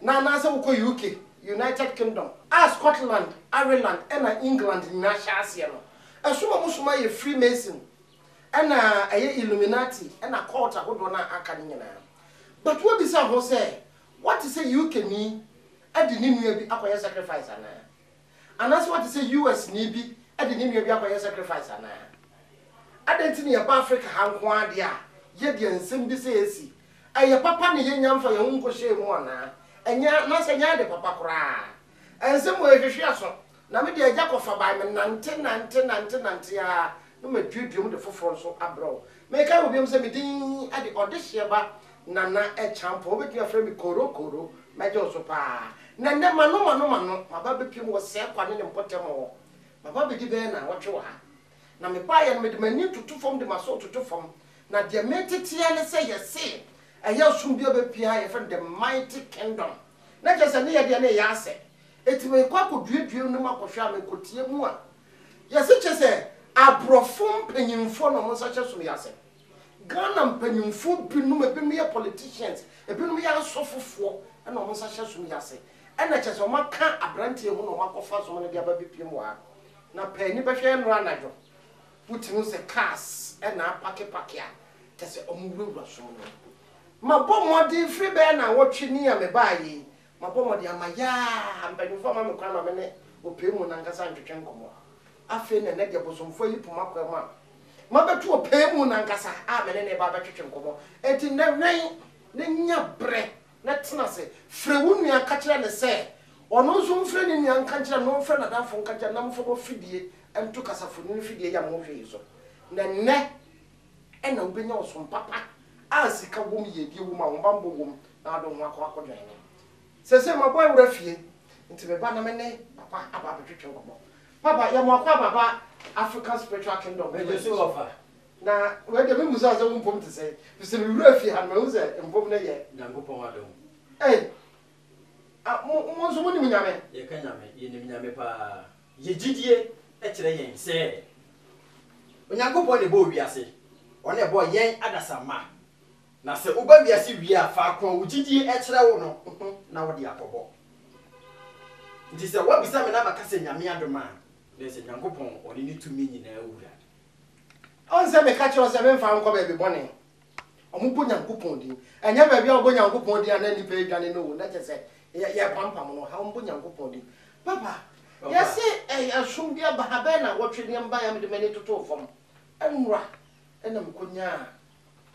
na anaasɛ wokɔ UK, United Kingdom, a Scotland, Ireland, ɛna England nyinaa hyɛ aseɛ no, ɛsom a wɔsom ara yɛ Freemason, ɛna ɛyɛ Illuminati, ɛna cult ahodoɔ no a aka no nyinaa. But woabisa ho sɛ, woate sɛ UKni de ne nua bi akɔyɛ sacrifice anaa? Anaasɛ woate sɛ US-ni bi de ne nua bi akɔyɛ sacrifice anaa? Adɛn nti na yɛba Afrika ha nko ara deɛ a, yɛde nsɛm bi sɛɛ si? Ɛyɛ papa na yɛnnya mfa yɛn ho nkɔhyɛɛ mu anaa? Ɛnyɛ anaasɛ ɛnyɛ ade papa koraa? Nsɛm wei hwehwe aso, na me deɛ agya kɔfa bae, menante nante nante nante ara na maduadua mu de foforɔ nso abrɛ wo. Mekae wo biom sɛ me din de Ɔdehyeɛ ba Nana Kyampɔn. Wobɛtumi afrɛ me Koro Koro. Mɛgye wo so pa ara. Na nnɛ m'ano m'ano m'ano, maba abɛpiem wɔ Sɛɛkwa ne ne mpɔtam hɔ. Maba abɛdi bɛyɛ nnawɔtwe wɔ ha. Na mebaeɛ no, mede m'ani toto fam de m'aso retoto fam. Na deɛ meretete ara ne sɛ yɛse ɛyɛ ɔsom bi a ɛbɛpue ha a yɛfrɛ no The Mighty Kingdom. Na kyerɛ sɛ ne yɛdeɛ no reyɛ asɛ. Enti merekɔ akɔduedue no mu akɔhwɛ a, merekɔtie mu a, Yɛse kyerɛ sɛ abrɔfo mpanyimfoɔ na wɔn nsa hyɛ som yi ase. Ghana mpanyimfoɔ binom, ebinom yɛ politicians, ebinom yɛ asɔfofoɔ na wɔn nsa hyɛ som yi ase. Ɛna kyerɛ sɛ wɔn aka abranteɛ yi ho na wɔn akɔfa som no de aba abepiem wɔ ha. Na pɛ ani bɛhwɛ yɛ nnora anadwo, wotumi hu sɛ cars na apake pake a kyerɛ sɛ wɔn wurawura som no mu. Mabɔ mmɔden firi bɛyɛ nnawɔtwe ni a mebaa yei, Mabɔ mmɔden ama yaa mpanyimfo ama me kwan ma me ne ɔpɛɛ mu no ankasa ntwetwe nkɔmmɔ. Afei na ɛnnɛ deɛ bosomfoɔ ayi po m'akwaa mu a, mabɛto ɔpɛɛ mu no ankasa a me ne no reba abɛtwetwe nkɔmmɔ. Enti nnɛ wɛn na nya berɛ na tena ase. Frɛ wo nua ka kyerɛ no sɛ ɔno nso mfrɛ ne nua nka nkyerɛ no, mfrɛ n'adamfo nka nkyerɛ no na momfa mo afidie nto kasafonini fidie yi a mohwɛ yi so. Na nnɛ Ɛnna wobenya ɔsom papa a sika wom, yiedie wom, ahobammɔ wom, na wode wo ho akɔ akɔdwɛn no. Seesei mabɔ awura fie, enti meba na me ne Papa aba abɛtwetwe nkɔmmɔ. Papa, yɛ mo akwaaba aba African Spiritual Kingdom no ma yɛn so. Na wei deɛ memmusaa sɛ wo mpom te sɛn, ɛfiri sɛ mewuraa fie ha no, mahu sɛ mpom no yɛ. Nyankopɔn adom. Ei! Mo, mo nso monim Nyame? Yɛka Nyame, yɛnim Nyame paa. Yɛ gyidie kyerɛ yɛn sɛ Onyankopɔn na ɛbɔɔ wiase, Ɔno na ɛbɔɔ yɛn adasamma. Na sɛ woba wiase wie a, faako a wo gyidie kyerɛ wo no ho na wode akɔbɔ. Nti sɛ woabisa me na maka sɛ Nyame adom a, na ɛsɛ Nyankopɔn, Ɔne ne tumi nyinaa Wura. Ɔnsɛ meka kyerɛ wo sɛ memfa wo nkɔ baabi bɔne, Wɔbɔ Nyankopɔn din. Ɛnyɛ baabi a wɔbɔ Nyankopɔn din a na nnipa redwane no o, na kyerɛ sɛ yɛrepampam no. Ha wɔbɔ Nyankopɔn din. Papa, yɛse ɛsom bi aba ha, bɛyɛ nnawɔtwe ni, ɛmbaeɛ a mede m'ani totoo fam. Ɛnora na mekɔnyaa,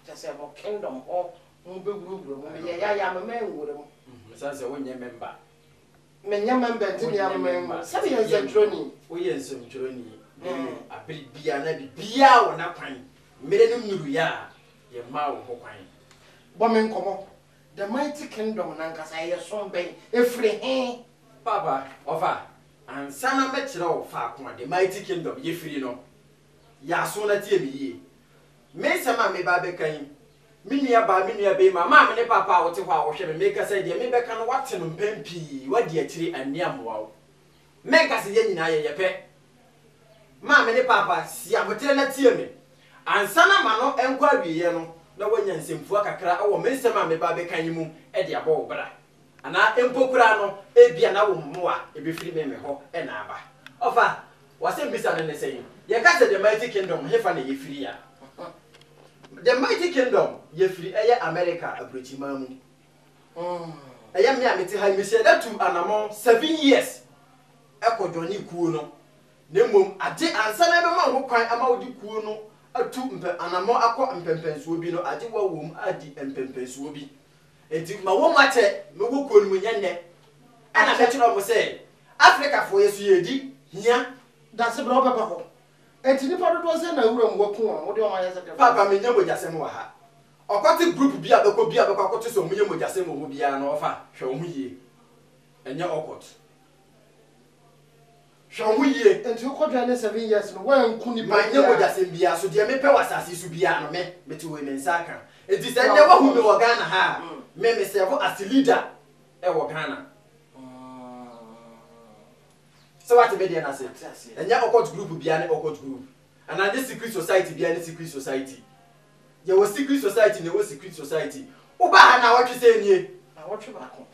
kyerɛ sɛ mo kingdom hɔ, mobɛwurawura mu. Meyɛeɛ ayɛ a, mema anwura mu. Ɛsiane sɛ wonyɛ member. Menyɛ mɛmba Ndzeyɛɛ Aheman mu sɛneyɛ nsɛnkyerɛwnyi. Woyɛ nsɛnkyerɛwnyi da bio. Aber biara na biribiara wɔ n'akwan. Mber no nduruiɛ a, yɛmmaa wo hokwan. Bɔ me nkɔmmɔ, The Mighty Kingdom no ankasa yɛ som bɛn? Efiri hen? Paapa, ɔfa, Ansa na mɛkyerɛ wo faako a The Mighty Kingdom yɛ firi no, Yɛ aso na tie me yie. Me nsɛm a mereba abɛka yi, me nuabaa, me nuabarima, maame ne papa a wote hɔ a wohwɛ me, merekasa yi, deɛ merebɛka no, woate no mpɛn pii, woadi akyire, anni ammoa wo. Mɛnka sɛ yɛn nyinaa yɛyɛ pɛ. Maame ne papa, si aboterɛ na tie me. Ansa na m'ano nkɔ awieeɛ no, na woanya nsɛmfua kakra wɔ me nsɛm a mereba abɛka yi mu de abɔ wo bra. Anaa mpo koraa no, ebia na wo mmoa a ebefiri me me hɔ na aba. Ɔfa, W'asɛmmisa no ne sɛn? Yɛka sɛ The Mighty Kingdom, hefa na yefiri a? The Mighty Kingdom, yefiri ɛyɛ Amerika aburokyiman mu. Ɛyɛ me a mete ha yi, mesi ɛda tuu anammɔn seven years kɔ joinee kuo no. Na mmom, agye ansa na yɛbɛma ho kwan ama wode kuo no atu mpɛ anammɔn akɔ mpɛmpɛnsoɔ bi no, agye woawom adi mpɛmpɛnsoɔ bi. Enti ma wɔmmu atɛn no wɔ kuo no mu nyɛ nnɛ. Ɛna mɛkyerɛ wɔn sɛ Afrikafoɔ yɛ so yɛredi hia. Dase bra wobɛba hɔ. Enti nnipa dodoɔ sɛn na wuram hɔ kuu a wode wɔn ayɛ sɛ dɛmfoɔ? Paapa menyɛ mogyasɛm wɔ ha. Ɔkwati group bi a bɛkɔ bi a bɛkɔ akɔto sɛ wɔn yɛ mogyasɛm wɔ hɔ biara no ɔfa hwɛ wɔn ho yie. Ɛnyɛ ɔkɔt. Hwɛ wo ho yie. Nti wokɔ dware ne seven years no woanku nipa biaa. Manyɛ mogyasɛm biaa so deɛ mepɛ wɔ asase yi so biaa no me mete wei me nsa aka nti sɛ nnɛ wahu me wɔ Ghana ha a me me serve as leader wɔ Ghana sɛ wate me deɛ no ase ɛnyɛ occult group biaa ne occult group anaa ɛnyɛ secret society biaa ne secret society yɛwɔ secret society na ɛwɔ secret society wobaa ha nnawɔtwe sɛn nie? Nnawɔtwe baako.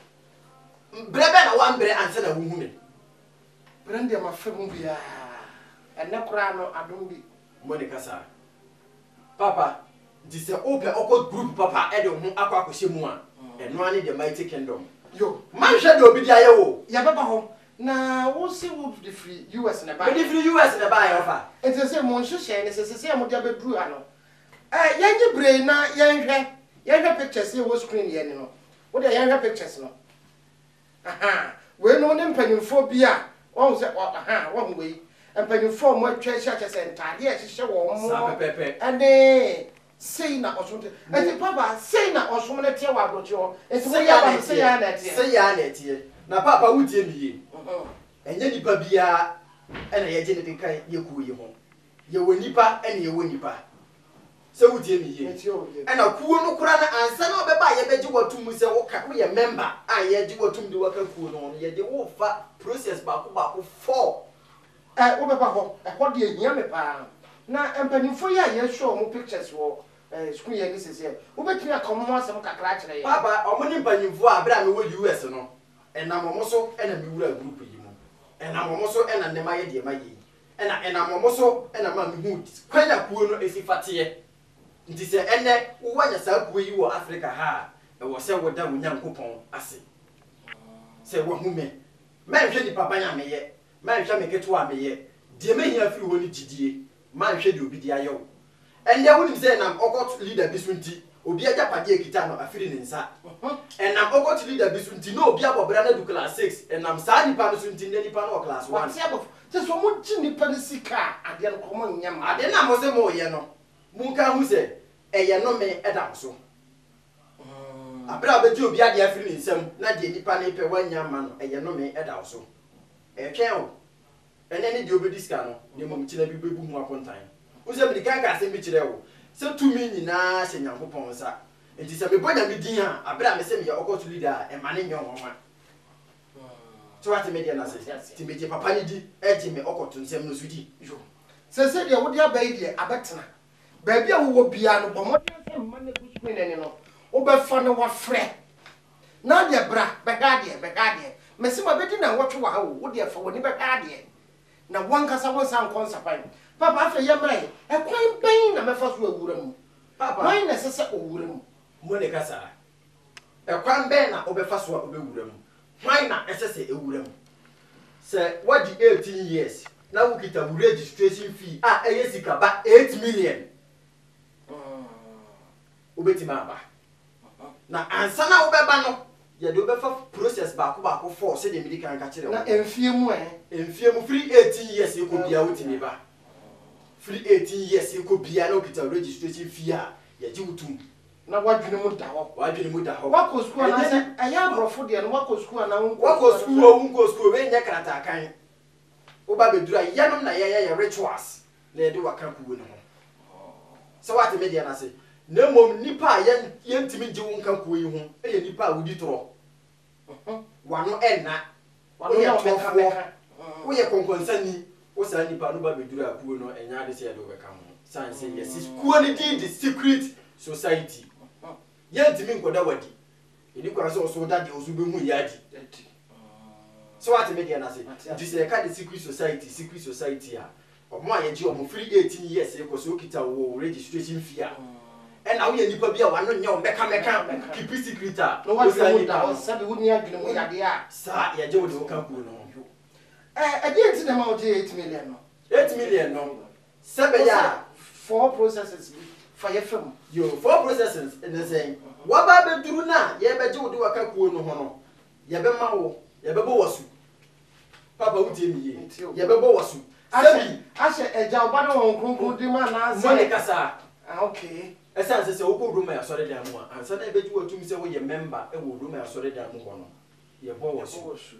Mbrɛ bɛn na wɔamberɛ ansa na wohu me? Berɛ no deɛ mafa mu biaa. Ɛnnɛ koraa no adom bi. Mo ne kasa papa. Nti sɛ wopɛ ɔkɔ group papa de wo ho akɔ akɔhyɛ mu a, ɛno ara ne The Mighty Kingdom. Yo. Mma nhwɛ deɛ obi de ayɛ wo o. Yɛbɛba hɔ. Na wo se wo de firi US na ɛbaeɛ? Mede firi US na ɛbaeɛ, ɔfa. Nti seesei mo nhyehyɛe ne sɛ, seesei a mode abɛduru ha no, Eh yɛnye bree na yɛnhwɛ yɛnhwɛ pictures yɛ wɔ screen yɛ ani no wo deɛ yɛnhwɛ pictures no ahaa wei nom ne mpanyinfoɔ bi a wahu sɛ ahaa wahu wei mpanyinfoɔ a wɔn atwa ahyia kyɛ sɛ ntaadeɛ a ɛhyehyɛ wɔn ɛne sei na ɔsom te ɛti papa sei na ɔsom no teɛ wɔ aburokyi hɔ ɛti wo yɛ ba no sei yaa na ɛteɛ sei yaa na ɛteɛ na papa wo tie mi yie ɛnyɛ nipa biara ɛna yɛgye ne de kan yɛ kuo yi ho Yɛwɔ nnipa ɛna yɛwɔ nnipa sɛ wotie me yie ɛna kuo no koraa no ansa na ɔbɛba a yɛbɛgye wo atom mu sɛ woka woyɛ mɛmba a yɛgye wo atom de woaka kuo no ho no yɛde wo fa process baako baako four ɛ wobɛba hɔ ɛhɔ deɛ ɛhia me paa na mpaninfoɔ yi a yɛ show wɔn pictures wɔ ɛ sukuu yɛ ne sɛsɛ wobɛtumi aka wɔn ho asɛm kakra akyerɛ yɛn. Papa wɔn ne mpaninfoɔ a berɛ a mewɔ US no ɛnam wɔn so ɛna me wura group yi mu ɛnam wɔn so ɛna nnɛ mayɛ deɛ mayɛ yi na ɛnam wɔn so na ɛma mihuu kwan a kuo no si fa teɛ. Nti sɛ ɛnnɛ woanya saa kuo yi wɔ Afrika ha a, ɛwɔ sɛ woda wo Nyankopɔn ase sɛ wahu me. Mɛnhwɛ nipaban a meyɛ, mɛnhwɛ me ketewa a meyɛ, deɛ mehia firi hɔ ne gyidie, mɛnhwɛ deɛ obi de ayɛ wo. Ɛnde wunim sɛ ɛnam ɔkɔt leader bi so nti, obi agyapade a ekita no afiri ne nsa. Ɛnam ɔkɔt leader bi so nti, na obi abɔ bra na adu class six. Ɛnam saa nipa no so nti, nnɛ nipa no wɔ class one. Wate abɔfo te sɛ wɔn gye nipa no sika a, adeɛ no kɔ wɔn nyɛ mma. Adeɛ no a mo se mo yɛ no, mo nka nhu sɛ ɛyɛ nnome da mo so. Abere a wobɛgye obi adeɛ afiri ne nsam na deɛ nipa no repɛ wannya amma no, ɛyɛ nnome da wo so. Ɛretwɛn wo. Ɛnɛ ne deɛ ɔbɛdi sika no, na mmom kyena bi bɛbu ho akontan. Wohu sɛ mede kan kaa asɛm bi kyerɛɛ wo, sɛ tumi nyina ara hyɛ Nyankopɔn nsa, enti sɛ mebɔ Nyame din a, aberɛ a mese meyɛ ɔkɔso leader a, mma no nyɛ nwanwa. So woate me deɛ no ase? Nti megye papa no di, gye me ɔkɔto nsɛm no nso di. Yo. Seesei deɛ wode aba yi deɛ, abɛtena. Baabi a wowɔ biara no, bɔ mmɔden sɛ mma no agu so ne nɛne no, wobɛfa na wafrɛ. Nadia, Bra bɛhwɛ adeɛ, bɛhwɛ adeɛ. Mese mabɛdi nnawɔtwe wɔ ha o, wo deɛ fa w'ani bɛhwɛ adeɛ na wo ankasa wonsan nkɔ nsapan. Paapa, Afei yɛmmra ɛ, ɛkwan bɛn na mɛfa so awura mu? Paapa, Hwan na ɛsɛ sɛ ɔwura mu? Monica, Saa ara. Ɛkwan bɛn na wobɛfa so a wobɛwura mu? Hwan na ɛsɛ sɛ ɛwura mu? Sɛ woadi eighteen years na wokita wo registration fee a ɛyɛ sika ba eight million, wobɛtumi aba. Na ansa na wobɛba no, yɛde wo bɛfa process baako baako fɔɔ sɛdeɛ medi kan ka kyerɛɛ wo no. Na mfeɛ mu ɛ? Mfeɛ mu, firi eighteen years rekɔ biara wotumi ba. Firi eighteen years rekɔ biara na wokita registration fee a, yɛgye wo tom. Na w'adwene mu da hɔ? W'adwene mu da hɔ. Woakɔ sukuu anaa sɛ ɛyɛ aborɔfo deɛ no woakɔ sukuu anaa wonkɔɔ sukuu? Woakɔ sukuu oo, wonkɔɔ sukuu oo, wei nyɛ kratakan. Woba bɛduru a, yɛnom na yɛyɛ yɛ rituals. na yɛde wo aka kuw no ho, sɛ woate me deɛ no ase, na mmom nnipa a yɛrentumi ngye wo nka kuw yi ho yɛ nnipa a wodi torɔ, w'ano nna, woyɛ torɔfoɔ, woyɛ kɔnkɔnsani. Wo saa nnipa no ba bɛduru a, kuo no, ɛnyɛ ade sɛ yɛde wo bɛka ho, sane sɛ yɛasi kuo no din de secret society. Yɛrentumi nkɔda w'adi. Ɛni kwan sɛ ɔso da deɛ ɔso bɛhu yi adi. So wate me deɛ no ase? Nti sɛ yɛka the secret society, secret society a, ɔmo a yɛgye ɔmo firi eighteen years rekɔ, sɛ ɔkita wo wɔ wo registration fee a, ɛna woyɛ nipa bi a w'ano nyɛ wo mɛka mɛka, keep secret a, wosan yi ka ho. Sɛbi wonni adwene mu yadeɛ a. Saa, yɛgye wo deɛ woka kuo no ho. Ɛdeɛn nti na ɛma wogyee eight million no? Eight million no, Sɛ ɛbɛyɛ a. Four processes bi fa yɛ fam. Yoo, four processes ne sɛn? W'aba abɛduru no a yɛrebɛgye wo de w'aka kuo no ho no, yɛbɛma wo, yɛbɛbɔ w'asu. Papa wo tie me yie, yɛbɛbɔ w'asu. Sɛbi. Ahyɛ Agya, Ɔba ne Honhom Kronkron din mu anaa sɛ. Mo ne kasa. Ah okay. Ɛsiane sɛ sɛ wokɔ Roma asɔredan mu a, ansa na yɛbɛgye wo atum sɛ woyɛ mɛmba wɔ Roma asɔredan mu hɔ no, yɛbɔ w'asu.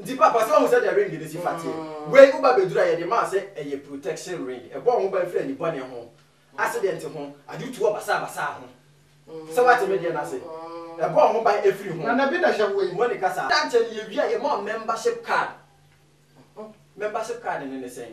Nti papa sɛ wahu sɛdeɛ ring no si fa teɛ wei wo ba bɛduru a yɛde maa sɛ ɛyɛ protection ring ɛbɔ wo ho ban firi anibɔne ho accident ho ade tu wɔ basaa basaa ho sɛ wate me deɛ no ase ɛbɔ wo ho ban ɛfiri ho Nana bi na hyɛ wei. Monica saa da nkyɛ no yɛwie a yɛma wo membership card membership card no ne sɛn.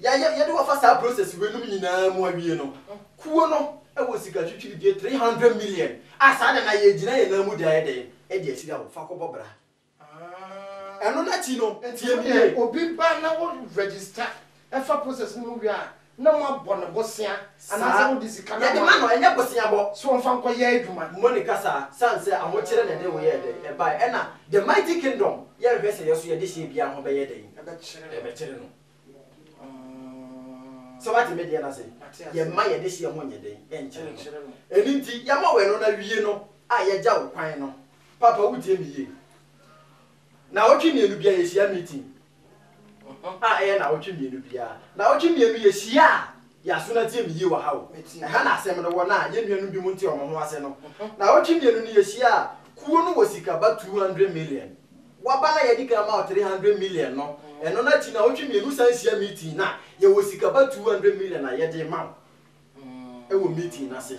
Yɛ yɛ yɛde wɔfa saa process wei nom nyinaa mu awie no, kuo no wɔ sika twitwiridie three hundred million a saa da no a yɛgyina yɛn nan mu de ayɛ dɛn? De ahyira wo, fa kɔbɔ bra. Ah, ɛno n'akyi no, tie me yie. Obi ba na wo register fa process no mu wie a, na mo abɔ no bosea. Saa. Yɛde ma no, ɛnyɛ boseabɔ. Sɛ ɔmfa nkɔyɛ adwuma. Moni kasaa, sane sɛ ahokyere na ɛde wo yɛɛ dɛn? Ɛbae. Ɛna The Mighty Kingdom, yɛnhwɛ sɛ yɛso yɛde hyɛɛ biara ho bɛyɛ dɛn? Ɛbɛkyere no. Sɛ wate me deɛ no ase? Yɛmma yɛde hyɛɛ ho nyɛ dɛn? Ɛnkyere no. Ɛno nti, yɛma wo ɛno na wie no a, yɛgya wo kwan no. Paapa, wotie me yie? Nnawɔtwe mmienu biara, yɛhyia meeting. ho a ɛyɛ nnawɔtwe mmienu biara. Nnawɔtwe mmienu yɛ hyia a yɛn aso no atie me yie wɔ ha o. Ɛha na asɛm no wɔ no a yɛn nuanom binom nte wɔn ho ase no. Nnawɔtwe mmienu no yɛ hyia a kuo no wɔ sika ba two hundred million. Wɔaba no a yɛde kan ma wɔ three hundred million no, ɛno no akyi nnawɔtwe mmienu wo san hyia meeting no a, yɛwɔ sika ba two hundred million a yɛde rema wo wɔ meeting no ase.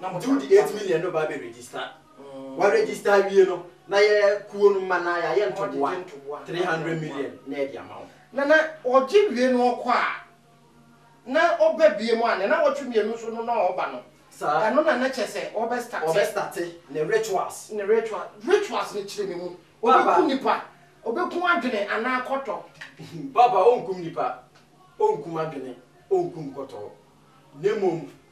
Na wɔde wo de eight million no ba abɛ register. Wa register awie no, na yɛ kuo no mma no ara yɛayɛ ntoboa three hundred million na yɛde ama wo. Na na ɔgye wie no ɔkɔ a, na ɔba biom a, ne nnawɔtwe mmienu so no na ɔba no. Saa. Ɛno na na kyerɛ sɛ ɔbɛ starte. Ɔbɛ starte ne rituals. Ne ritual, rituals no kyerɛ me mu. Papa. Ɔbɛku nipa, ɔbɛku adwene anaa kɔtɔ. Papa, ɔnkum nipa, ɔnkum adwene, ɔnkum kɔtɔ. Na mmom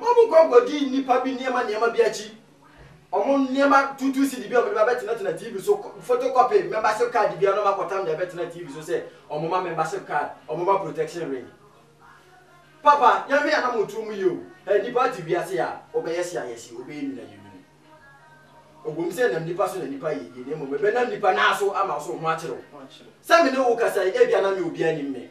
Wɔkɔ kɔdi nnipa bi nneɛma nneɛma bi akyi. Wɔn nneɛma tuutuu CD bi a wɔde ba bɛtenatena TV so, photocopy membership card bi a na wɔakɔtam de abɛtena TV so sɛ wɔma membership card, wɔma protection ring. Papa, Nyame a na mo tuo mu yɛ o. Ɛ nnipa ate wiase a, wobɛyɛ se ayɛ se, wobɛyɛ nwunu ayɛ nwunu. Ɛwom sɛ ɛnam nnipa so na nnipa yɛ yie, na mmom ɛbɛnam nnipa no ara so ama wo so wo ho akyere wo. Sɛ me ne wo rekasa yi, ebia na me a obiara nnim me.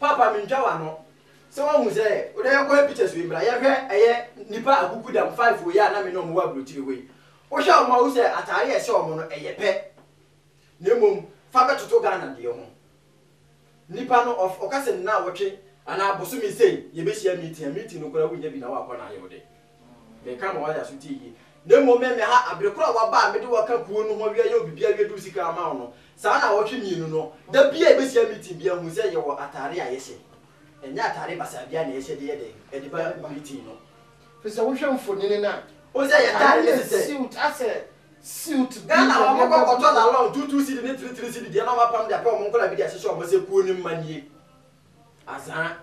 Papa mintwa wano sɛ wahu sɛ wo na yɛkɔyɛ pictures wei bra yɛhwɛ ɛyɛ nipa akuku dam five wei a na me ne ɔmo wɔ abrokyire hɔ yi wohwɛ ɔmo a wohu sɛ ataare a ɛhyɛ ɔmo no ɛyɛ pɛ na mmom fa bɛtoto Ghana deɛ ho nipa no ɔf ɔka sɛ nnaawɔtwe anaa bosome sei yɛbɛhyia meeting a meeting no koraa wonnya bi na woakɔ na ayɛ wo dɛ. Meka ma wɔayɛ aso tie yie. Na mmom meme ha, bere koro a woaba a mede wo aka kuo no ho awia yɛ obi biara wie de wo sika ama wo no, saa ara na awɔtwe mmienu no, da biara a yɛbɛhyia meeting biara hu sɛ yɛwɔ ataare a yɛhyɛ. Ɛnyɛ ataare basaa biara na yɛhyɛ de yɛ dɛn? De ba meeting no. Ɛfiri sɛ wohwɛ mfonini no a, ataare no yɛ suit, asɛ suit bi na nneɛma bi. Ghana a wɔkɔ kɔtɔ lalong, two two cedi ne three three cedi deɛ na wɔapam de apɛ wɔn nkwadaa bi de ahyehyɛ wɔn sɛ kuo no mma nie. Azaa.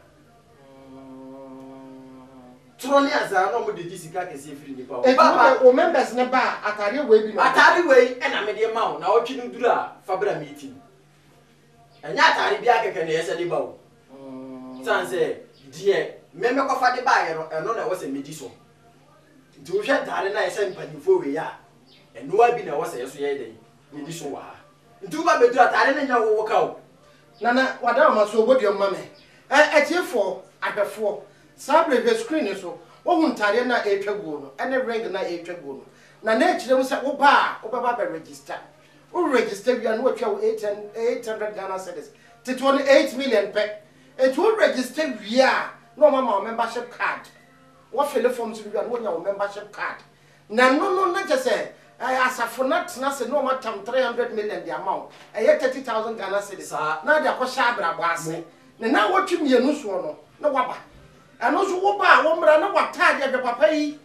Toro ne azaa na wɔde gye sika kɛseɛ firi nnipa hɔ. Enti wode wo members no ba a, ataadeɛ wei bi na wɔde. Ataade wei na mede rema wo, naawɔtwe no duru a, fa bra meeting. Ɛnyɛ ataade biara kɛkɛ na ɛyɛ sɛ de ba o. Ɛsiane sɛ deɛ me mekɔfa de baeɛ no, ɛno na ɛwɔ sɛ medi so. Nti wohwɛ ntaade no a ɛsɛ mpanimfoɔ wei a, ɛno ara bi na ɛwɔ sɛ yɛn nso yɛyɛ dɛn? Medi so wɔ ha. Nti woba bɛduru ataade no nyɛ wo wo ka o. Nana wada wo ma so bɔ dua mu ma me. Ɛ atiefoɔ, ahwɛfoɔ, saa berɛ hwɛ screen no so, wohu ntaadeɛ no a ɛretwa guo no ne ring no a ɛretwa guo no. Na na ɛkyerɛ mu sɛ woba a wobɛba abɛ register. Wo register wie a na wɔtua wo eight hun eight hundred Ghana cedis, teteɔ no eight million pɛ. Nti wo register wie a na wɔama wo membership card. Wofile forms no wie a na wonya wo membership card. Na ɛno no na kyerɛ sɛ ɛɛ asafo no atena ase na wɔatam three hundred million de ama wo, ɛyɛ thirty thousand Ghana cedis, Saa. na wode akɔhyɛ abrabɔ ase. Ne naawɔtwe mmienu soɔ no na woaba. Ɛno nso woba a wo mmra na w'ataadeɛ, hwɛ papa yi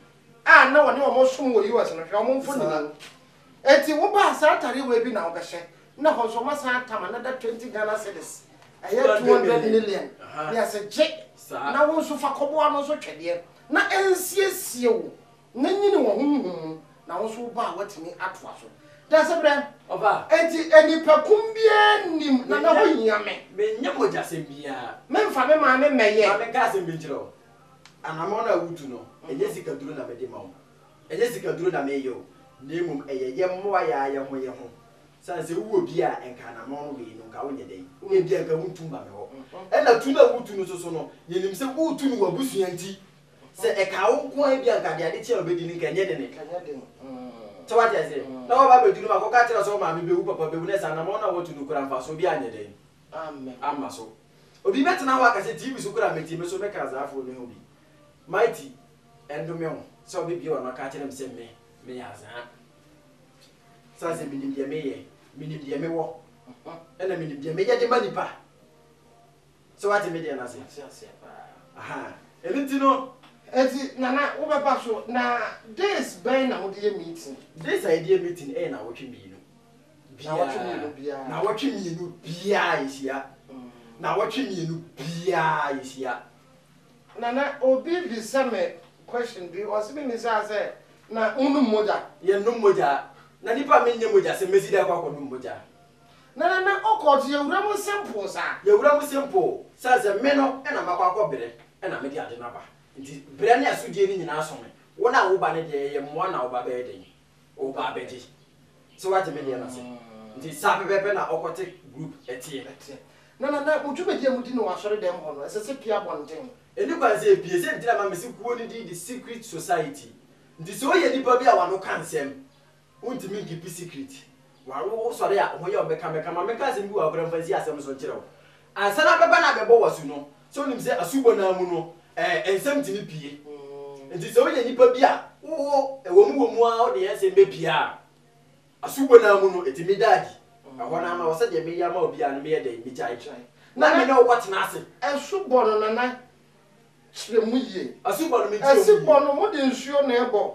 a na wɔne wɔn resom wɔ US no, hwɛ wɔn mfonini Saa. yi. Enti woba a saa ataadeɛ wei bi na wobɛhyɛ, na ɛhɔ nso wɔasan atam another twenty Ghana cedis, ɛyɛ two hundred million, Aha. na yɛse gye Saa. na wo nso fa kɔboa no nso twɛdeɛ. na ɛnsiesie wo na nyini wɔ honhom mu na wo nso wo ba a woatumi atoa so. Dasebrɛ. Ɔfa. Enti nnipakum biara nnim na na wohia me. Mennyɛ mogyasɛm biara. Memfa me maame mmɛyɛ. Ma menka asɛm bi nkyerɛ wo. Anammɔn a wotu no, ɛnyɛ sikaduro na mede ma wo. Ɛnyɛ sikaduro na mereyɛ o, na mmom ɛyɛ yɛn mmoa yɛn ara yɛn ho yɛn ho. San sɛ wowɔ bi a nka anamɔn no wei no nka wonyɛ dɛn? Wowɔ bi a nka wontu mma me hɔ. Ɛna tu no a wotu no so so no, yɛnim sɛ woretu no w'abusua nti. Sɛ ɛkaa wo nko ara bi a nka deɛ ade kye a wobɛdi no nka ɛnyɛ dene. Sɛ woate aseɛ? Na waba abɛdu no ma kɔka kyerɛ sɛ wo maame bɛwu, wo papa bɛwu na sɛ anamɔn no a woatu no koraa mfasoɔ biara anyɛ dɛn? Amma so. Obi bɛtena hɔ aka sɛ TV so koraa mete me so meka asaafo no ho bi. Mighty, ɛndome wo sɛ wobɛbue w'ano aka akyerɛ me sɛ me, meyɛ azaa. Sane sɛ menim deɛ meyɛ, menim deɛ mewɔ, ɛna menim deɛ meyɛ de ma nipa. Sɛ wate me deɛ no ase? Ate aseɛ paa. Aha, ɛno nti no. Ɛnti Nana, wobɛba so, na days bɛn na mode yɛ meeting? Days a yɛde yɛ meeting ɛyɛ nawɔtwe mmienu biara. Nawɔtwe mmienu biara. Nawɔtwe mmienu biara yɛhyia. Nawɔtwe mmienu biara yɛhyia. Nana obi bisa me question bi ɔse me misaa sɛ na mo nom mogya. Yɛ nom mogya na nipa a me nyɛ mogya sɛ mesi dɛn kɔ akɔ nom mogya. Nana na ɔkɔ te yɛwura mo sempoo saa. Yɛwura mo sempoo sane sɛ me no na makɔ akɔ brɛ na mede ade no aba nti brɛ ne asodie no nyinaa so me wo na wo ba no deɛ yɛyɛ mmoa na wo ba bɛyɛ dɛn. Ɔba abɛgye sɛ wagye me nneɛma sɛ nti saa pɛpɛɛpɛ na ɔkɔte group ɛteɛ no. Te. Nana na mo dwumadi a modi no wɔ asɔre dɛm hɔ no ɛsɛ sɛ pue abɔnten. Ɛni kwan sɛ ɛpue, sɛ nti na ma me se kuo no din de secret society nti sɛ ɔyɛ nipa bi a wano ka nsɛm, wontumi nkipi secret W'ano wo sɔre a ho yɛ wo mɛka mɛka ma menka asɛm bi wɔ akora mfa nsi asɛm so nkyerɛ wo ansa na abɛba na abɛbɔ w'asu no sɛ wonim sɛ asubɔ no ara mu no ɛɛ nsɛm tumi pie nti sɛ woyɛ nipa bi a wo wo ɛwɔmu wɔmu ara wode yɛ nsɛm bɛpie a asubɔ no ara mu no ɛtumi da adi ɛhɔ no ama wo sɛdeɛ meyɛ ama wo biara no meyɛ dɛn megyae na me ne wo kɔtena ase. Asubɔ no nana kyerɛ mu yie. Asubɔ no mekyerɛ mu yie. Asubɔ no wode nsuo na ɛbɔ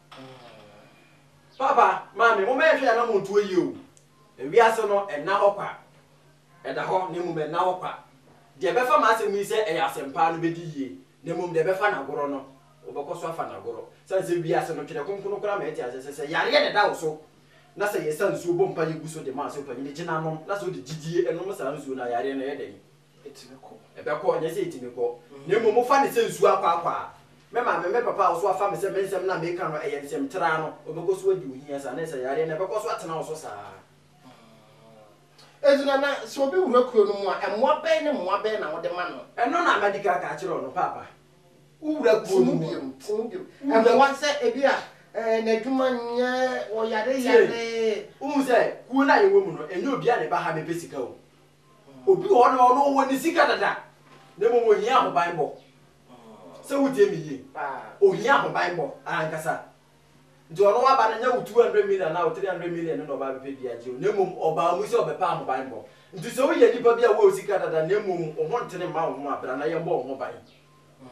Papa, Maame, momma yɛnhwɛ yɛn anammɔntuo yie o. Wiase no, ɛnna hɔ kwa. Ɛda hɔ, na mmom ɛnna hɔ kwa. Deɛ ɛbɛfa m'asɛm yi sɛ ɛyɛ asɛmpa no bɛdi yie, na mmom deɛ ɛbɛfa no agorɔ no, wɔbɛkɔ so afa no agorɔ. Ɛsiane sɛ wiase no, Twerɛ Kronkron no koraa ma yɛte aseɛ sɛ, sɛ yareɛ na ɛda wo so, na sɛ yɛsa nsuo bɔ mpaeɛ gu so de ma asɔrepanin no, gyina nom, na sɛ wode gyidie nom saa nsuo no a, yareɛ no, ɛyɛ dɛn? Ɛtumi kɔ. Ɛbɛkɔ, ɛnyɛ sɛ ɛtumi kɔ, na mmom mofa no sɛ nsuo akwaakwaa. Me maame, me papa a wɔso afa me sɛ me nsɛm no a meka no yɛ nsɛm traa no, wɔbɛkɔ so adi wo hia saa, na ɛsɛ yareɛ no ɛbɛkɔ so atena wo so saa. Enti Nana, sɛ obi wura kuro no mu a, mmoa bɛn ne mmoa bɛn na wode ma no? Ɛno na madi kan aka akyerɛ wo no, Paapa. Wowura kuro no mu a. Te mu biom, te mu biom. Mmoa sɛ ebi a n'adwuma nyɛ, ɔyareyare. Tie, wohu sɛ kuo no a yɛwɔ mu no, ɛnyɛ obiara na ɛba ha bɛpɛ sika o. Obi wɔ hɔ nom a ɔno ɔwɔ ne sika dada na mmom ohia ahobanbɔ. Sɛ wotie me yie, ohia ahobanbɔ ankasa. Nti ɔno waba no nyɛ wo 200 million anaa wo 300 million no na ɔba abɛpɛ bi agye wo na mmom ɔbaa mu sɛ ɔbɛpɛ ahobanbɔ. Nti sɛ woyɛ nipa bi a wowɔ sika dada na mmom wo ho ntene mma wo ho a, bra na yɛmmɔ wo ho ban.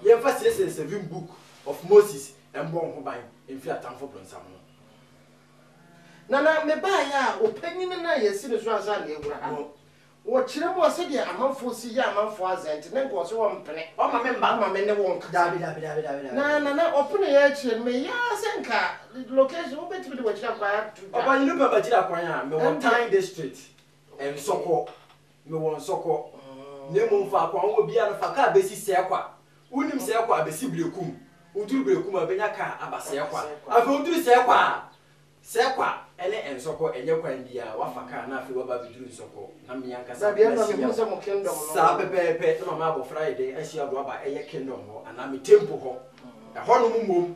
Yɛmfa siesie the seven book of Moses mmɔ wo ho ban mfiri atamfo bonsam ho. Nana, mebaeɛ a, ɔpanyin no a yɛasi no so ansa na yɛawura ha no, ɔkyerɛ mu a, sɛdeɛ amanfoɔ si yɛ amanfoɔ adze nti, ne nkɔɔ sɛ ɔmpene. Ɔmma me mma. Ɔmma me ne wo nkasa. Daabi, daabi, daabi, daabi, daabi. Na Nana, ɔpeneeɛ akyire no, meyɛɛ ara sɛ nka location, wobɛtumi de w'akyiri akwan ato dwa. Ɔpanyin no pɛ m'akyiri akwan a, mewɔ Tang District, Nsɔkɔ. Mewɔ Nsɔkɔ. Na mmom faako a wowɔ biara no, fa kaa bɛsi Sɛkwa. Wonim sɛɛ kwa a, bɛsi Berekum. Woduru Berekum a, bɛnya kaa a aba sɛɛ kwa. Afei woduru sɛɛ kwa a, sɛɛ kwa ne Nsɔkɔ ɛnyɛ kwan bi a, wafa kaa na afei waba abɛduru Nsɔkɔ. Na me ankasa mahyia wo. Saa pɛpɛɛpɛ na mama abɔfra ayɛ dɛn ahyia do aba ɛyɛ Kingdom hɔ anaa me Temple hɔ. Ɛhɔnom mmom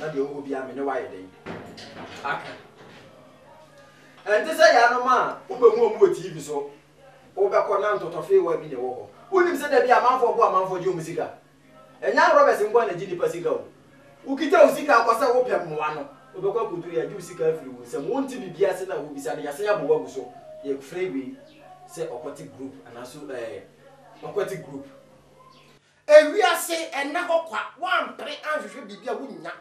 na deɛ ɔwɔ biara me ne wayɛ dɛn aka ɛnte sɛ yɛanom a wobɛhu wɔn wɔ tv so wobɛkɔ na ntɔtɔfeewa bi na ɛwɔ hɔ wonim sɛ da bi amanfoɔ bo amanfoɔ gye wɔn sika ɛnyɛ arɔbɛs nko a na gye nipa sika o wokita wo sika akɔ sɛ wopɛ mmoa no wobɛkɔ akɔduru yɛagye wo sika afiri wo nsam wonte biribi ase na wobisa no yɛasen abɔ wagu so yɛfrɛ wei sɛ ɔkɔte group anaso ɛɛ eh, ɔkɔte group Ewiase nna hɔ kwa, woampere anhwehwɛ biribi a wunnya.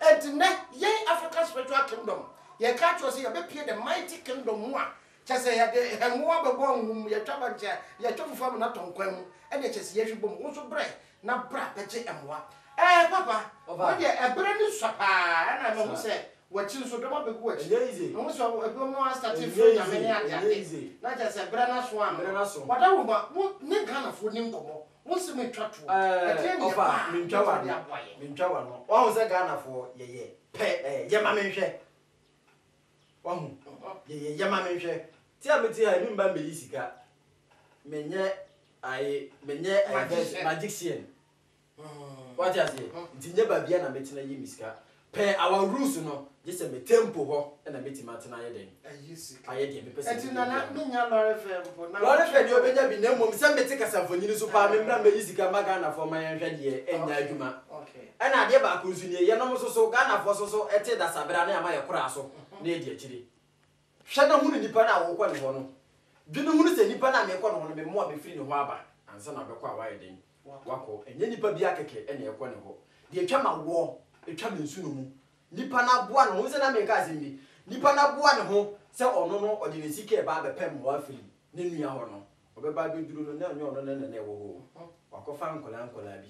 Enti nnɛ, yɛn African Spiritual Kingdom, yɛka akyerɛ wo sɛ yɛbɛpue the mighty kingdom mu a, kyerɛ sɛ yɛde hɛn ho abɛbɔ ahum mu, yɛtwa bɛnkye a, yɛtwa fufu amena tɔn kwan mu, ɛnneɛ kyerɛ sɛ yɛahwi bom. Wo nso brɛ, na bra bɛgye mmoa. Ɛɛ, Papa, wo deɛ, ɛberɛ no sua paa ara na mahu sɛ w'akyi nso, dɔm abɛgu w'akyi. Mahu sɛ ebinom no astate refrɛ Nyame ne adeade, na kyerɛ sɛ berɛ no aso ama wo. Wada wo ho a, wo ne Ghanafoɔ nni nkɔmmɔ. Wo se me twa toɔ. Ɛdeɛ neɛ paa mɛtumi de aboa yɛn. Me ntwa wano. Wahu sɛ Ghana foɔ yɛ yɛ pɛ ɛɛ yɛ ma me nhwɛ. Wahu yɛ yɛ yɛ ma me nhwɛ. Ti a me ti ha yi me mba mbɛ yi sika me nyɛ ayi me nyɛ ɛɛ vɛs magician. Wate aseɛ nti nyɛ baabia na mɛtena yi me sika Pɛ our rules no gye sɛ me tempo hɔ na mɛtumi atena ayɛ dɛn? Ayɛ deɛ mepɛ sɛ meyɛ biara. Lɔre fɛ deɛ ɔbɛnya bi na mmom sɛ mete kasamfonin so paa memmra mmɛyi sika mma Ghanafoɔ ma yɛnhwɛ deɛ ɛnyɛ adwuma. Ɛna adeɛ baako nso nie, yɛnom nso so Ghanafoɔ nso so te dasabrɛ a na yɛama yɛkora so na yɛdi akyire. Hwɛ na hunu nipa no a worekɔ ne hɔ no. Dwene ho sɛ, 'Nipa no a merekɔ ne hɔ no, me mmoa bɛfiri ne hɔ aba ansa na ɔbɛkɔ a wayɛ dɛn? Wakɔ. Ɛnyɛ nnipa biara kɛkɛ na ɛrekɔ ne hɔ. Deɛ ɛtwa m'awoɔ, ɛtwa me nsono mu. Nipa no aboa ne ho, wohu sɛ na mereka asɛm bi, nipa no aboa ne ho sɛ ɔno no ɔde ne sika reba abɛpɛ mmoa afiri ne nua hɔ no, ɔbɛba abɛduru no, na ɛnyɛ ɔno na na ɛwɔ hɔ o, wakɔfa nkwadaa nkwadaa bi.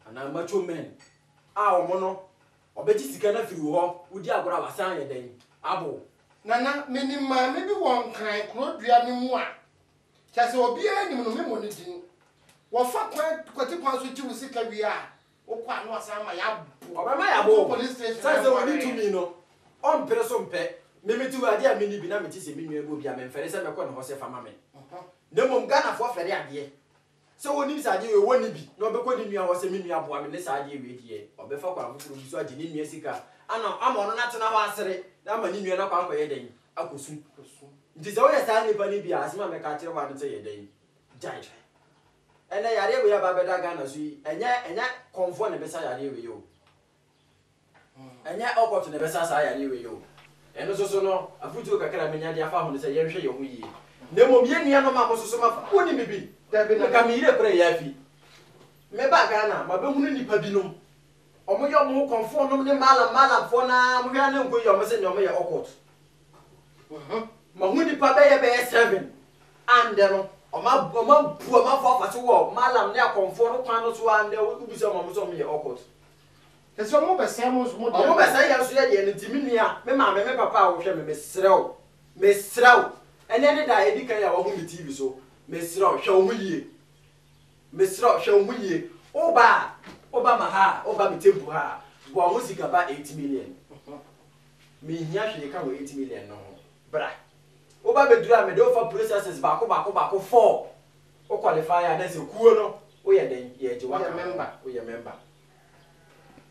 Anaa macho men a ɔmo no ɔbɛgye sika no afiri wo hɔ wodi agorɔ a wasan ayɛ dɛn abow. Nana menim maame bi wɔ nkran kurodua no mu a kyerɛ sɛ obiara nim no memmɔ ne din wɔfa kwan kwati kwan so gye wo sika wie a wokɔ a na wasan ama yɛabow Ɔbɛma yɛabow wokɔ wo police station sane sɛ ɔnni tumi no ɔmpere so mpɛ me mete hɔ yi adeɛ a menni bi na mete sɛ me nua bi wɔ bi a memfɛre sɛ mɛkɔ ne hɔ sɛ fa ma me na mmom Ghanafoɔ fɛre adeɛ Sɛ ɔnim sɛ adeɛ wei wɔnni bi na ɔbɛkɔ ne nua hɔ sɛ me nua boa me ne saa adeɛ wei deɛ ɔbɛfa kwan foforɔ bi so agye ne nua sika ana ama ɔno no atena hɔ asere na ama ne nua no akɔ akɔyɛ dɛn akɔsu nti sɛ woyɛ saa nnipa no bi a asɛm a mɛka akyerɛ wo ane sɛ yɛ dɛn gyae ɛnɛ yareɛ wei aba abɛda Ghana so yi ɛnyɛ ɛnyɛ kɔmfoɔ na ɛbɛsa yareɛ wei o Ɛnyɛ ɔkɔto na ɛbɛsa saa yareɛ wei o. Ɛno nso so no, afotuo kakra a mɛnya de afa ho ne sɛ yɛnhwɛ yɛn ho yie. Na mmom yɛn nuanom a mo nso so moafa no, monim biribi? Nka me yere koraa yɛ afi mebaa Ghana a, mabɛhunu nnipa binom, wɔyɛ wɔn ho kɔmfoɔnom ne mallam mallamfoɔ no ara, mohwɛ ara na ɛnkɔ yie a wɔse nnɛ wɔyɛ occult. Mahu nnipa bɛyɛ bɛyɛ seven a nnɛ no wɔabu amanfoɔ afa so wɔ mallam ne akɔmfoɔ no kwan no so ara nnɛ wobisa wɔn a wɔse wɔyɛ occult. Te sɛ ɔmo bɛsɛe mo nso mo deɛ no. Ɔmo bɛsɛe yɛn nso yɛ deɛ no nti me nua, me maame, me papa a wɔhwɛ me, mesrɛ wo, mesrɛ wo, ɛnɛ ne da a edi kan a wahu me TV so, mesrɛ wo, hwɛ wo ho yie, mesrɛ wo, hwɛ wo ho yie, wo ba a, wo ba ma ha a, wo ba me temple ha a, boa ho sika ba eight million, me nhia hwee ka wɔ eight million no ho, bra, wo ba bɛduru a mede wo fa processes baako baako baako four, Wo qualify a na sɛ kuo no wo yɛ dɛn yɛgye wo aka ho wo yɛ member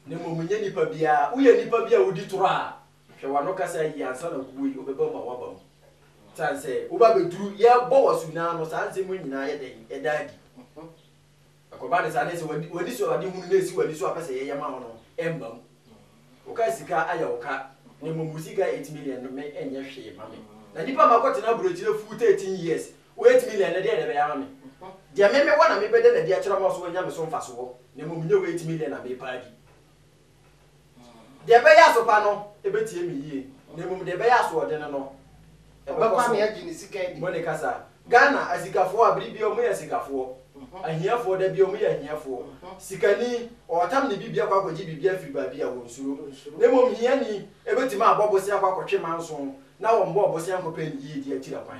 na mmom nyɛ nipa biara wo yɛ nipa bi a wo di toro a hwɛ wano kasa yie ansa na kuo yi wo bɛ ba mu a wa ba mu sane sɛ wo ba bɛ duru yɛ bɔ wasu no ano saa nsɛm yi nyinaa yɛ dɛn yɛ da adi. Ɛkɔba no saa na ɛsɛ w'ani w'ani so a w'ade hunu na esi w'ani so a wopɛ sɛ yɛyɛ ma wo no ɛmma mu. Wokaa sika ayɛ wo ka na mmom wo sika eight million no me ɛnyɛ hwee ma me na nipa ma kɔ tena aburokyire full thirteen years wo eight million no deɛn na ɛbɛyɛ ama me? Deɛ me me wɔ na me bɛda no adi akyerɛ wo ma wo so wanya me so mfasoɔ na mmom nyɛ wo eight million a me pɛ adi. Deɛ ɛbɛyɛ aso pa no bɛtie me yie, na mmom deɛ ɛbɛyɛ asoɔdene no bɛkɔ so bɔ ne kasa. Ghana, asikafoɔ a bere biara wɔyɛ asikafoɔ, ahiafoɔ da biara wɔyɛ ahiafoɔ. Sikani, ɔretam ne biribi akɔ akɔgye biribi afiri baabi a, wɔnsuro. Na mmom hiani bɛtumi abɔ bosea akɔ akɔtwe manso, na wɔmmɔɔ bosea nkɔpɛ ne yiedie akyiri kwan.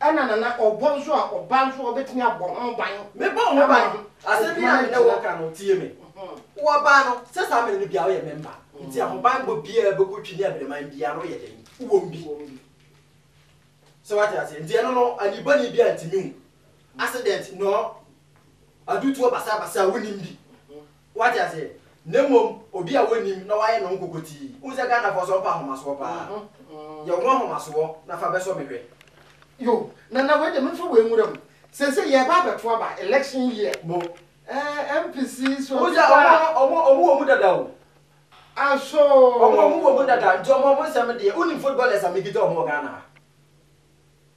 Ɛna na na ɔbɔ nso a ɔba nso a ɔbɛtumi abɔ ho ban. Mebɔɔ ho ban, asɛm bi a me ne wo reka no, tie me. Wɔbaa no, sɛ saa mene no biara woyɛ mɛmba, nti ahobanbɔ biara bɛkɔ twi ne abinaman biara no woyɛ dɛn? Wowɔ mu bi. So woate aseɛ? Nti ɛno no, ani bɔne biara ntumi hu. Accident nor adutoɔ basabasa a wonim bi. Wate aseɛ? Na mmom obi a wonnim na wayɛ ne ho nkokotii. Wohu sɛ Ghanafoɔ nso ɔmpɛ ahomasoɔ paa. Yɛ wo ho ahomasoɔ na fa bɛsɔ me hwɛ. Yo, Nana wei deɛ memfa wei nwura mu. Seesei yɛreba abɛto aba, election year. Mo. Ɛɛ MPC so Wohu sɛ ɔmo no, ɔmo, ɔmo wɔ mu dada o. Asoo. Ɔmo, ɔmo wɔ mu dada. Nti ɔmo, ɔmo nsɛm deɛ, wonnim footballers a mekita ɔmo wɔ Ghana ha?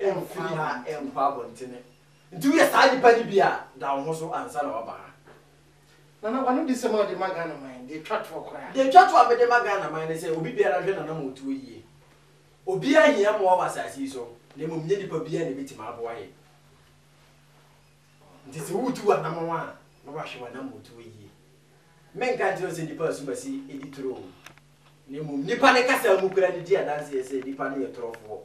Mfiri ha nkɔ abɔntene. Nti woyɛ saa nipa no bi a, da wo ho so ansa na woaba ha. Nana, w'anodisɛm a wode ma Ghana man deɛ ɛtwa toɔ koraa. Deɛ ɛtwa toɔ a mede ma Ghana man ne sɛ obi biara hwɛ n'anam wɔ tuo yie. Obiara nhia mmoa wɔ asase yi so, na mmom nyɛ nipa biara na ɛbɛtumi aboa yɛn. Nti sɛ woretu w'anamɔn a, na wahwɛ w'anam wɔ tuo yie. Menka nkyerɛ wo sɛ nipa asumasi di turo o. Na mmom nnipa no kasa mu koraa de di adanseɛ sɛ nnipa no yɛ torɔfoɔ.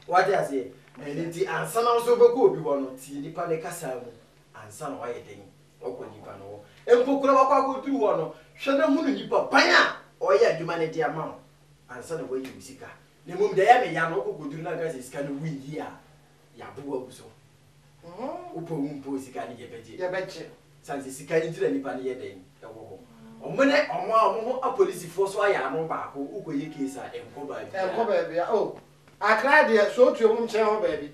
Woate aseɛ? Ɛno nti ansa na wo nso wobɛkɔ obi hɔ no, tie nnipa no kasa mu ansa na woayɛ dɛn akɔ nnipa no hɔ. Mpo koraa woakɔ akɔduru hɔ no, hwɛ na hunu nipa ban a ɔreyɛ adwuma no de ama wo ansa na woayi wo sika. Na mmom deɛ ɛyɛ me ya no, wokɔkɔduru na anka sɛ sika no woi yie a, yɛaboa agu so. Wopɛ wo mpo sika no yɛbɛgye. Yɛbɛgye. Sane sɛ sika yi nti na nnipa no yɛ dɛn wɔ hɔ. Wɔn ne wɔn a wɔn ho apolisifoɔ so ayɛ ano baako wokɔ yɛ case a ɛnkɔ baabiara. Ɛnkɔ baabiara oh Accra deɛ sɛ wotu wɔn kyɛn hɔ baabi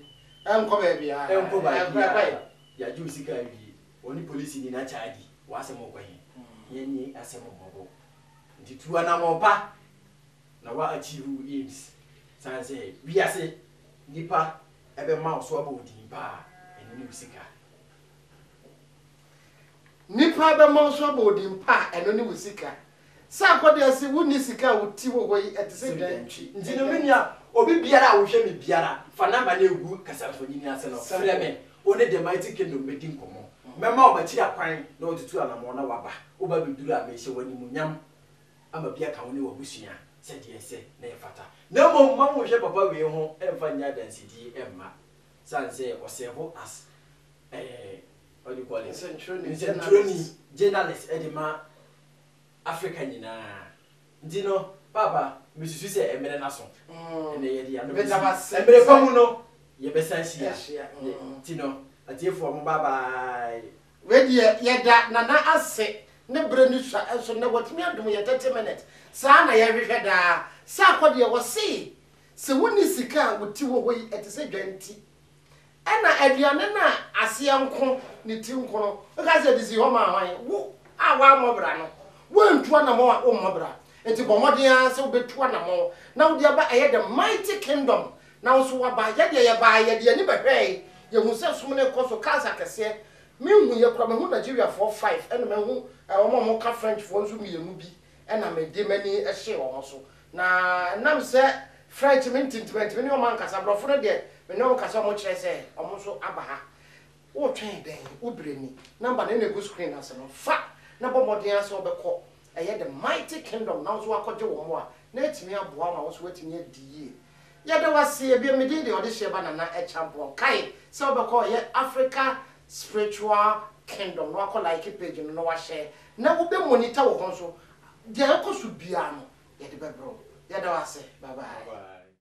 ɛnkɔ baabiara. Ɛnkɔ baabiara yɛagye wo sika awie wɔne polisini no akyɛ adi w'asɛm wokɔ he yɛn ne asɛm mmɔbɔ nti tu anammɔn pa na wa achieve wo aims sane sɛ wiase Nnipa bɛma wo so abɔ wo din pa ara, ɛno ne wo sika. Nnipa bɛma wo so abɔ wo din pa a, ɛno ne wo sika. Sɛ akɔde ase wonni sika a wo ti wɔ hɔ yi, ɛte sɛ dɛn? Nti no, me nua, obi biara a wohwɛ me biara, fa namba no gu kasamfonin ase no, frɛ me, wo ne The Mighty Kingdom bɛdi nkɔmmɔ. Mɛma wo m'akyiri akwan na woatutu anammɔn na woaba. Woba bɛduru a, mehyɛ wo animuonyam. ama bi aka wo ne w'abusua sɛdeɛ ɛsɛ na ɛfata. Na mmom ma wo nhwɛ papa wei ho mfa nyɛ adansedie mma. Sane sɛ ɔ serve as eh what do you call it? Nsɛntwerɛni, Nsɛntwerɛni, journalist, de ma Africa nyinaa. Nti no Paapa mesusu sɛ ɛmmerɛ no aso. Ɛnɛ yɛde yɛn ano bɛsi. Meda wo ase. Mmerɛ pa mu no yɛbɛsan ahyia. Ahyia. Nti no atiefoɔ mo bye bye. Wei deɛ yɛda Nana ase ne berɛ no sua nso nnɛ watumi adom yɛn 30 minutes saa na yɛhwehwɛ daa sɛ akɔ deɛ wɔse sɛ wonni sika a wo ti wɔ hɔ yi ɛte sɛ dwan ti ɛna aduane no a aseɛ nko ne ti nko no woka sɛ de si hɔ ma hwan wo a woammɔ bra no woantu anamɔn a wommɔ bra nti bɔ mmɔden ara sɛ wobɛtu anamɔn na wode aba ɛyɛ the mighty kingdom Nanso waba. Yɛ deɛ yɛbaa, yɛde yɛn ani bɛhwɛɛe, yɛhuu sɛ som no rekɔ so, cancer kɛseɛ. Menhuiɛ koraa, mahu Nigeriafoɔ five, ɛna mahu wɔn a wɔka Frenchfoɔ nso mmienu bi, ɛna mede m'ani hyee wɔn so. Na ɛnam sɛ French mente nti, mantumi ne wɔn ankasa. Aborɔfo no deɛ, me ne wɔn kasaeɛ, wɔkyerɛɛ sɛ wɔn nso aba ha. Woretwɛn dɛn? Wo berɛ ni. Number no na ɛgu screen no ase no, fa na bɔ mmɔden ara sɛ wobɛkɔ ɛyɛ The Mighty Kingdom na wo nso woakɔgye wo mmoa, na atumi aboa wo ma wo nso woatumi adi yie. Yɛda wo ase bio, me din de Ɔdehyeɛba Nana Akyampong. Kae sɛ wobɛkɔ ɔyɛ Africa Spiritual Kingdom na wakɔ like page no na wahyɛ na wobɛ monitor wo ho nso. Deɛ ɛkɔ so biara no yɛde bɛbrɛ wo. Yɛda wo ase. Bye bye.